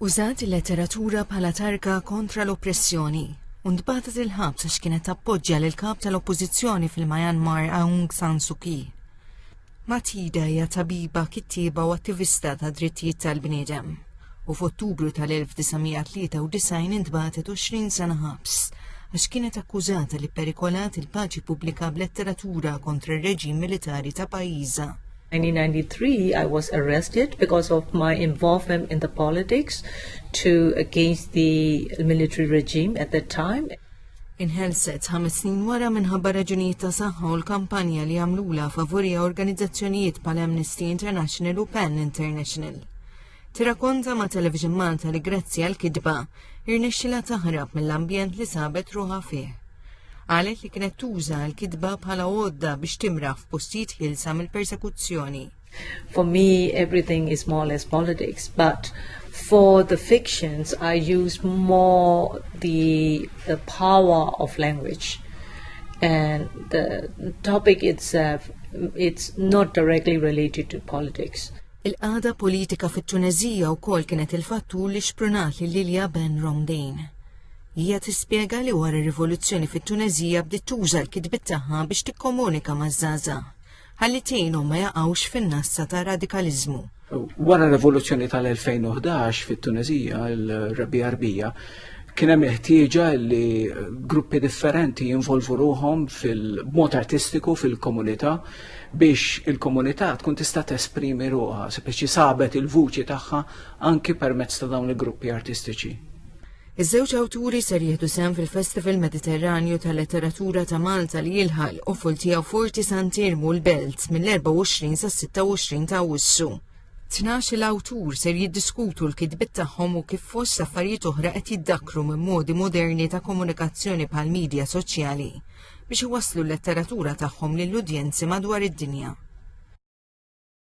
Użat il-letteratura bħala targa kontra l-oppressjoni u ntbagħtet il-ħabs għax kienet tappoġġja lil kap tal-oppożizzjoni fil-Myanmar Aung San Suu Kyi. Matida hija tabiba, kittieba u attivista ta' drittijiet tal-bniedem u f'Ottubru tal-1993 intbagħtet 20 sena ħabs għax kienet akkużata li perikolat il-paċi pubblika b'letteratura kontra r-reġim militari ta' pajjiża. 1993 I was arrested because of my involvement in the politics to against the military regime at that time. Inħelset ħames snin wara minħabba raġunijiet ta' saħħa u l-kampanja li għamlula favurija organizzazzjonijiet pal Amnesty International u PEN International. Tirrakkonta ma' Television Malta li grazzi għall-kitba, irnexxilha taħrab mill-ambjent li sabet ruħha fih. Qalet li kienet tuża l-kitba bħala għodda biex timraħ f'postijiet ħielsa mill-persekuzzjoni. For me, everything is more or less politics, but for the fictions, I use more the, the power of language. And the topic itself, it's not directly related to politics. Il-qagħda politika fit-Tuneżija wkoll kienet il-fattur li xprunat lil Lilja Ben Romdin. Hija tispjega li wara r-rivoluzzjoni fit-Tuneżija bdiet tuża l-kitbiet tagħha biex tikkomunika maż-żgħażagħ ħalli tgħinhom ma jaqgħux fin-nassa ta' radikaliżmu. Wara r-rivoluzzjoni tal-2011 fit-Tuneżija, il-Rabi Arbija, kien hemm ħtieġa li gruppi differenti jinvolvu ruhom fil-mod artistiku fil-komunità biex il-komunità tkun tista' tesprimi ruħha, biex jisabet il-vuċi tagħha anki permezz ta' dawn il-gruppi artistiċi. Iż-żewġ awturi ser jieħdu sehem fil-Festival Mediterranju tal-Letteratura ta' Malta li jilħaq u full tiegħu Forti Santirmu l-Belt mill-24 sas-26 ta' Awwissu. Tnax l-awtur ser jiddiskutu l-kitbit tagħhom u kif fost affarijiet oħra qed jiddakru minn modi moderni ta' komunikazzjoni bħal media soċjali. biex iwasslu l-letteratura tagħhom lill-udjenzi madwar id-dinja.